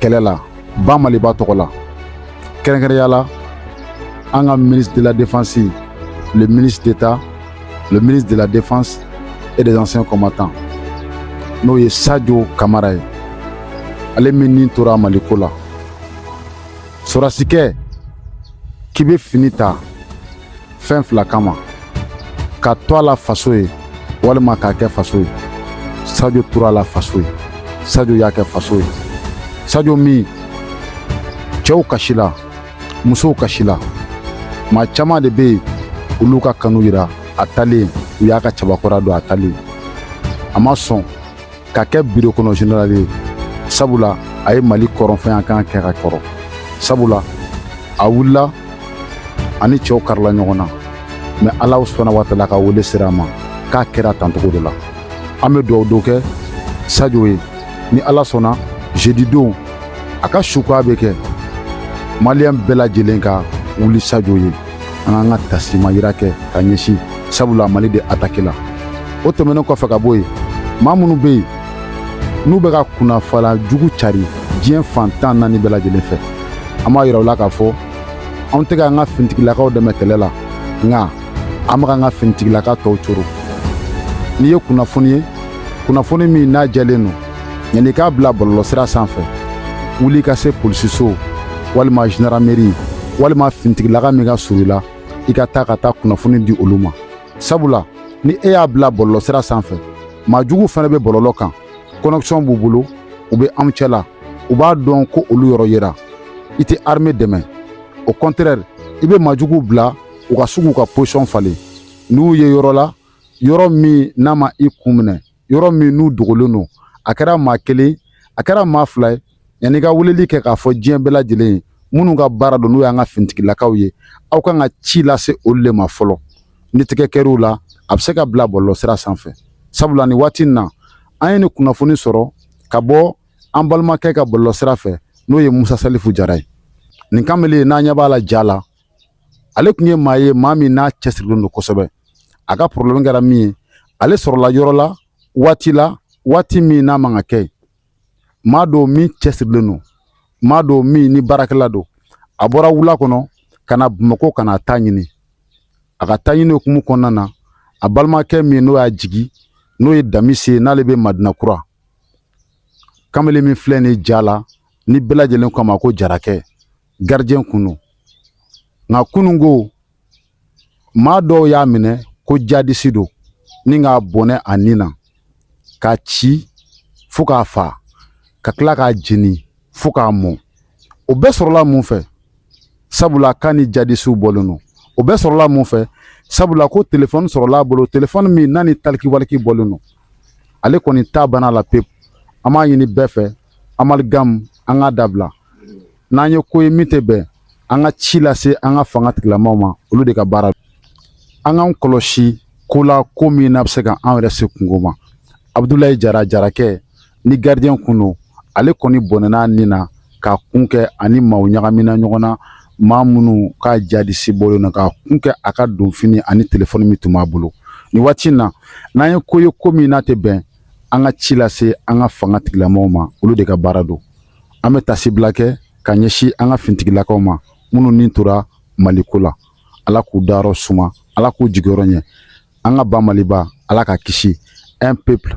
kɛlɛ la ba maliba tɔgɔ la kɛrɛnkɛrɛnya la an ka ministre de la défense le ministre d'état le ministre de la défense et des anciens combattants n'o ye sajo kamara ye ale min ni tora maliko la sɔrɔdasikɛ k'i bɛ fini ta fɛn fila kama ka to a la faso ye walima k'a kɛ faso ye sajo tora a la faso ye sajo y'a kɛ faso ye sajo min cɛw kasila musow kasila maa caman de bɛ yen olu ka kanu yira a taalen u y'a ka cɛbakɔrɔ dɔn a taalen a ma sɔn ka kɛ biro kɔnɔ zenerali ye sabula a ye mali kɔrɔnfɛnya kan kɛ ka kɔrɔ sabula a wulila ani cɛw karila ɲɔgɔn na mɛ ala subahana watala ka wele sera a ma k'a kɛra tancogo de la an bɛ dugawu do kɛ sajo ye ni ala sɔnna zedidon a ka sukoya bɛ kɛ maliyɛn bɛɛ lajɛlen ka wuli sajo ye an k'an ka taasi mayira kɛ ka ɲɛsin sabula mali de atakila o tɛmɛnen kɔfɛ ka bɔ yen maa minnu bɛ yen n'u bɛ ka kunnafala jugu cari diɲɛ fan tan naani bɛɛ lajɛlen fɛ an b'a yira u la k'a fɔ anw tɛ k'an ka finitigilakaw dɛmɛ kɛlɛ la nka an bɛ k'an ka finitigilaka tɔw coron n'i ye kunnafoni ye kunnafoni min n'a jɛlen don yanni i k'a bila bɔlɔlɔsira sanfɛ wuli ka se polisiso walima zandarameri walima finitigilaka min ka surun i la i ka taa ka taa kunnafoni di olu ma sabula ni e y'a bila bɔlɔlɔsira sanfɛ maajugu fana bɛ bɔlɔlɔ kan kɔnɛkisɔn b'u bolo u bɛ anw cɛ la u b'a dɔn ko olu yɔrɔ yera i tɛ arme dɛmɛ au contraire i bɛ maajuguw bila u ka sugu ka pozisɔn falen n'u ye yɔrɔ la yɔrɔ min n'a ma i kun minɛ yɔrɔ min n'u dogolen don a kɛra maa kelen a kɛra maa fila ye yanni i ka weleli kɛ k'a fɔ diɲɛ bɛɛ lajɛlen ye minnu ka baara don n'o y'an ka finitigilakaw ye aw kan ka ci lase olu de ma fɔlɔ ni tigɛ kɛr'u la a bɛ se ka bila bɔlɔlɔsira sanfɛ sabula nin waati in na an ye nin kunnafoni sɔrɔ ka bɔ an balimakɛ ka bɔlɔlɔsira fɛ n'o ye musa salifu jara ye nin kamalen n'an ɲɛ b'a la ja la ale tun ye maa ye maa min n'a cɛsirilen don kosɛbɛ a ka porobilɛmu kɛra min ye ale sɔrɔla yɔrɔ la waati la waati min n'a man ka kɛ maa don min cɛsirilen don maa don min ni baarakɛla don a bɔra wula kɔnɔ ka na bamakɔ ka na taɲini a ka taɲini hukumu kɔnɔna na a balimakɛ min n'o y'a jigi n'o ye damise n'ale bɛ madina kura kamalen min filɛ nin ja la ni bɛɛ lajɛlen ko a ma ko jarakɛ gardien kun don nka kununko maa dɔw y'a minɛ ko jadisi don ni k'a bɔnɛ a ni na k'a ci fo k'a fa ka tila k'a jeni fo k'a mɔ o bɛɛ sɔrɔla mun fɛ sabula k'a ni jadisiw bɔlen don o bɛɛ sɔrɔla mun fɛ sabula ko telefɔni sɔrɔla a bolo telefɔni min n'a ni talikiwaliki bɔlen don ale kɔni ta banna la pewu an b'a ɲini bɛɛ fɛ amaligamu an k'a dabila n'an ye ko ye min tɛ bɛn an ka ci lase an ka fanga tigilamaaw ma olu de ka baara an k'an kɔlɔsi ko la ko min n'a bɛ se ka an yɛrɛ se kunko ma abudulayi jara jarakɛ ni gardien kun don ale kɔni bɔnɛn'a ni na k'a kun kɛ a ni maaw ɲagamina ɲɔgɔn na maa minnu k'a jadisi bɔlen don k'a kun kɛ a ka donfini ani telefɔni min tun b'a bolo nin waati in na n'an ye ko ye ko min n'a tɛ bɛn an ka ci lase an ka fanga tigilamaaw ma olu de ka baara don an bɛ tasibila kɛ ka ɲɛsin an ka finitigilakaw ma minnu ni tora mali ko la ala k'u dayɔrɔ suma ala k'u jigiyɔrɔ ɲɛ an ka ba maliba ala k'a kisi un peuple